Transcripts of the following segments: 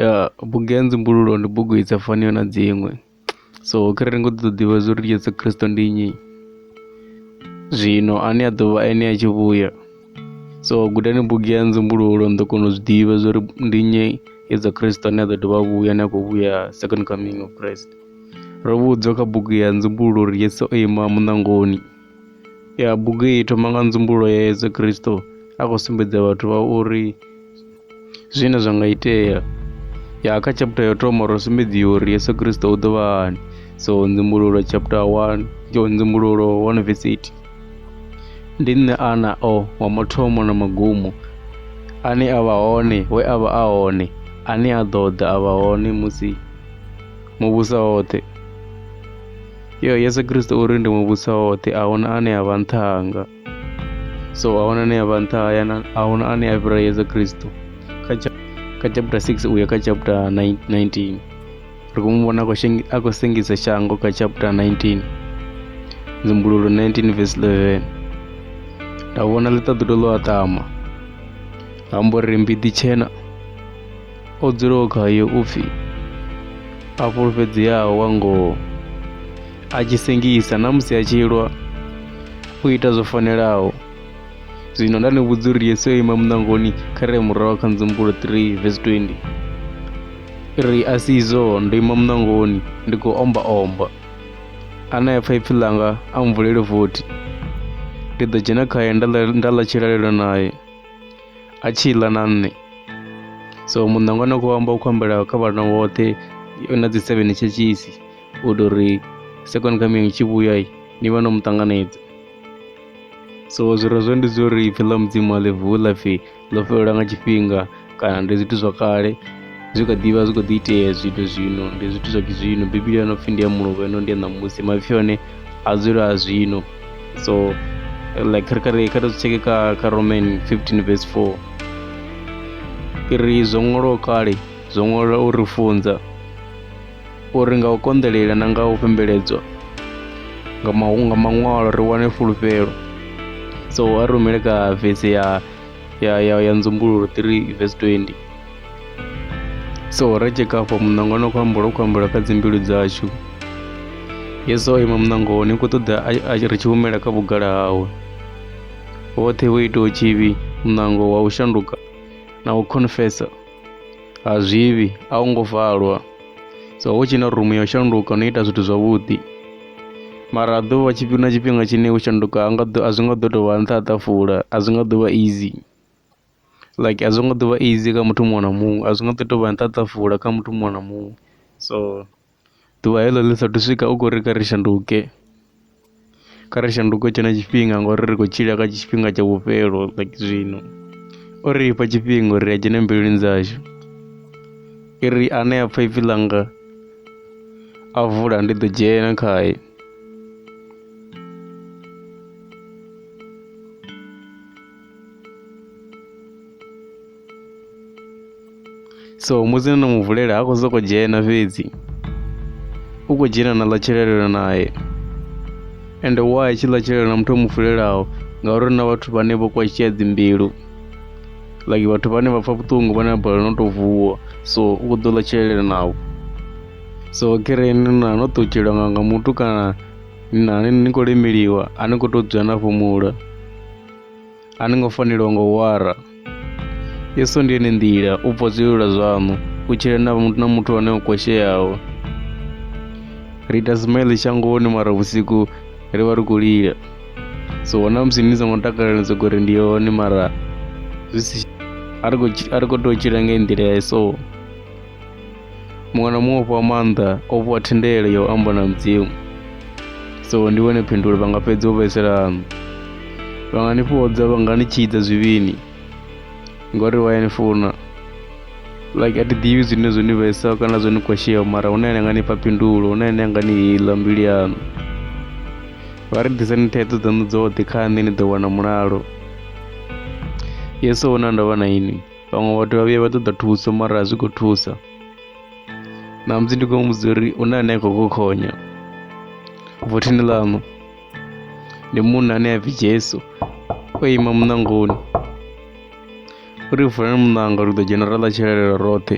Ya bugu ya nzumbululo ndi bugu i sa faniho na dziṅwe so kharali ni kho ṱoḓa u ḓivha zwa uri Yesu Kristo ndi nnyi zwino ane a ḓovha ene a tshi vhuya so gudani bugu ya nzumbululo ni ḓo kona u zwi ḓivha zwa uri ndi nnyi Yesu Kristo ane a ḓo dovha a vhuya ane a khou vhuya second coming of Christ ro vhudzwa kha bugu ya nzumbululo uri Yesu o ima muṋangoni. ya bugu iyi thoma nga nzumbulo ya yesu kristo a khou sumbedza vhathu vha uri zwine zwa nga itea ya kha chapter yo thoma ro sumbedziwa uri yesu kristo u ḓo vha hani so nzumbululo chapter 1 yo nzumbululo 1 verse 8 ndi nṋe ana o wa mathomo na magumo ane a vha hone we a vha a hone ane a ḓo ḓa a vha hone musi muvhusa woṱhe yo yesu kristo uri ndi muvhusa woṱhe a huna ane a vha nṱha hanga so a huna ane a vha nṱha haya a huna ane a fhira yesu kristo kha chapter 6 uya kha chapter 19 ri khou mu vhona a khou sengisa shango kha chapter 19 nzumbululo 19 verse 11 nda vhona ḽiṱaḓulu ḽo aṱama ha mbo ri mbiḓi tshena O dzulaho khayo u pfi a fhulufhedzeaho wa ngoho, a tshi sengisa na musi a tshi lwa, u ita zwo fanelaho. Zwino nda ni vhudza uri Yesu o ima muṋangoni kha re murahu kha Ndzimbulo 3 vesi 20 ri a si izwo ndo ima muṋangoni ndi khou omba omba ane a pfa ipfi ḽanga a mvulele vothi ndi ḓo dzhena khaye nda ḽa tshilalelo naye a tshi ḽa na nṋe so muṋangwa na khou amba u khou ambela kha vhana vhoṱhe na dzi seven tshetshishi u ita uri second coming tshi vhuya ni vha no mu ṱanganedza so zwi re zwo ndi zwo ri ipfhi ḽa mudzimu a ḽi vuwi ḽa pfhi ḽo fhelelwa nga tshifhinga kana ndi zwithu zwa kale zwi kha ḓivha zwi kho ḓi itea zwithu zwino ndi zwithu zwa zwino bivhili yo no pfhi ndi ya mulovha ino ndi ya ṋamusi maipfi one a dzula a zwino so like kha ri kha ri zwi tsheke kha kha roman 15 verse 4 ri zwo ṅwalwaho kale zwo ṅwalwa u ri funza uri nga u konḓelela na nga u fhembeledzwa nga maṅwalo ri wane fulufhelo so a rumele ka vese ya ya ya ya nzumbululo 3 verse 20 so ra tsheka afho muṋango no khou amba lwo khou ambela kha dzimbilu dzashu yesu o ima muṋango ni khou ṱoḓa ri tshi humela kha vhugala hawe woṱhe wo itaho tshivhi muṋango wa u shanduka na u confessa ha zwivhi a u ngo valwa so hu tshi na rumu ya u shanduka no ita zwithu zwavhuḓi mara a ḓovha tshifhinga tshifhinga tshine u shanduka a zwi nga ḓo tou vha nṱha ha ṱafula a zwi nga ḓo vha easy like a zwo ngo ḓo vha easy kha muthu muṅwe na muṅwe a zwi nga ḓo tou vha na ṱhaṱhuvula kha muthu muṅwe na muṅwe so ḓuvha heḽo ḽi saathu swika u khou ri kha ri shanduke kha ri shanduke tshenetsho tshifhinga ngori ri khou tshila kha tshifhinga tsha vhufhelo like zwino o ri fha tshifhinga uri a dzhene mbiluni dzashu i ri ane a pfha ipfi ḽanga a vula ndi ḓo dzhena khae so musi no no mu vulela ha khou sokou dzhena fhedzi u khou dzhena na ḽa tshilelela naye ende wa i tshi ḽa tshilelela na muthu o mu fulelaho ngauri na vhathu vhane vho kwashea dzimbilu like vhathu vhane vha pfa vhuṱungu vhane vha balelwa no tou vuwa so u khou ḓo ḽa tshilelela navho so kereni na no ṱutshela nga nga muthu kana na ni khou lemeliwa a ni khou tou dzula na fhumula A ni ngo fanelwa nga u wara. Yesu ndi ene nḓila, u bva zwilula zwaṋu, u tshila na muthu na muthu ane o kwasheaho. Ri ita smile shangoni mara vhusiku ri vha ri khou lila. So na musi ni songo takalela ni sokou ri ndi hone mara zwi si a ri khou tshi- a ri khou tea u tshila nga nḓila ya so. muṅwe na muṅwe o fhiwa maanḓa o fhiwa thendelo ya u amba na mudzimu so ndi wone phindulo vha nga fhedza u vhaiselana vha nga ni fhodza vha nga ni tshidza zwivhini ngori vha ya ni funa like a thi ḓivhi zwine zwo ni vhesa kana zwo ni kwashea mara hune ane nga ni fha phindulo hune ane nga ni hila mbilu yaṋu vha ri ḓisani thaidzo dzaṋu dzoṱhe kha nṋe ni ḓo wana mulalo yesu o na ndavha na ini vhaṅwe vhathu vha vhuya vha ṱoḓa thuso mara a zwi khou thusa ṋamusi ndi khou muvhudza uri u na ane a khou kokhonya vothini ḽaṋu ndi munna ane a pfi jesu o ima muṋangoni uri vulani muṋanga ri ḓo dzhena ra ḽa tshelelelo roṱhe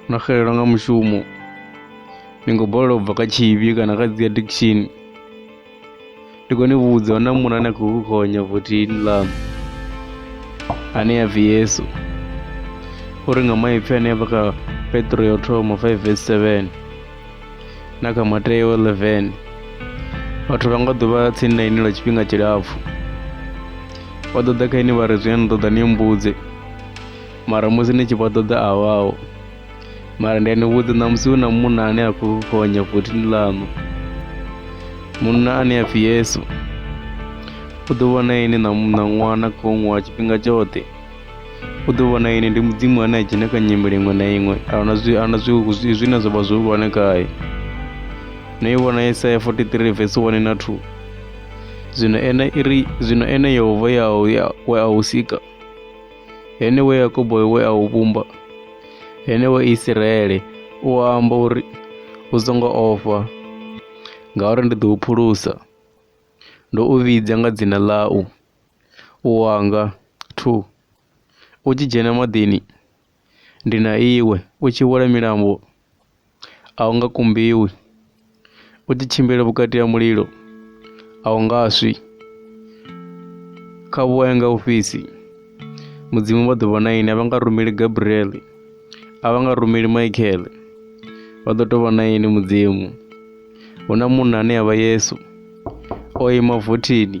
no xelelwa nga mushumo ni khou balelwa u bva kha tshivhi kana kha dzi addiction ndi khou ni vhudza hu na munhu ane a khou ku gonya votini ḽaṋu ane ya pfi yesu o ri nga maipfi ane a vha kha petro ya u thoma 5 vs 7 na kha mateo 11 vhathu vha nga ḓo vha tsini na ini lwa tshifhinga tshilapfhu vha ḓo ḓa kha ini vha ri zwine ni ṱoḓa ni mbudze mara musi ni tshi vha ṱoḓa a vhaho mara ndi anivudza namusi hu na munna ane a khou honya votini ḽaṋu munna ane a pfi yesu u ḓo vhona ini na na ṅwana khou ṅwa tshifhinga tshoṱhe u ḓo vhona ini ndi mudzimu ane a dzhena kha nyimele iṅwe na iṅwe ahuna zwi ahuna zwi zwi- zwine zwa vha zwihulwane khae no i vhona yesaya 43 vesi 1 na 2 zwino ene iri zwino ene yehova ya ya- we a u sika Ene we Yakobo we a u vhumba, ene we Isiraele u amba uri u songo ofha, ngauri ndi ḓo u phulusa. Ndo u vhidza nga dzina ḽau, u wanga, thu. U tshi dzhena maḓini, ndi na iwe, u tshi wela milambo, a u nga kumbiwi, u tshi tshimbila vhukati ha mulilo a u nga swi, kha vhuwaye nga u fhisi mudzimu vha ḓo vha na ini a vha nga rumeli gabriel a vha nga rumeli michael vha ḓo tou vha na ini mudzimu hu na munna ane a vha yesu o ima vothini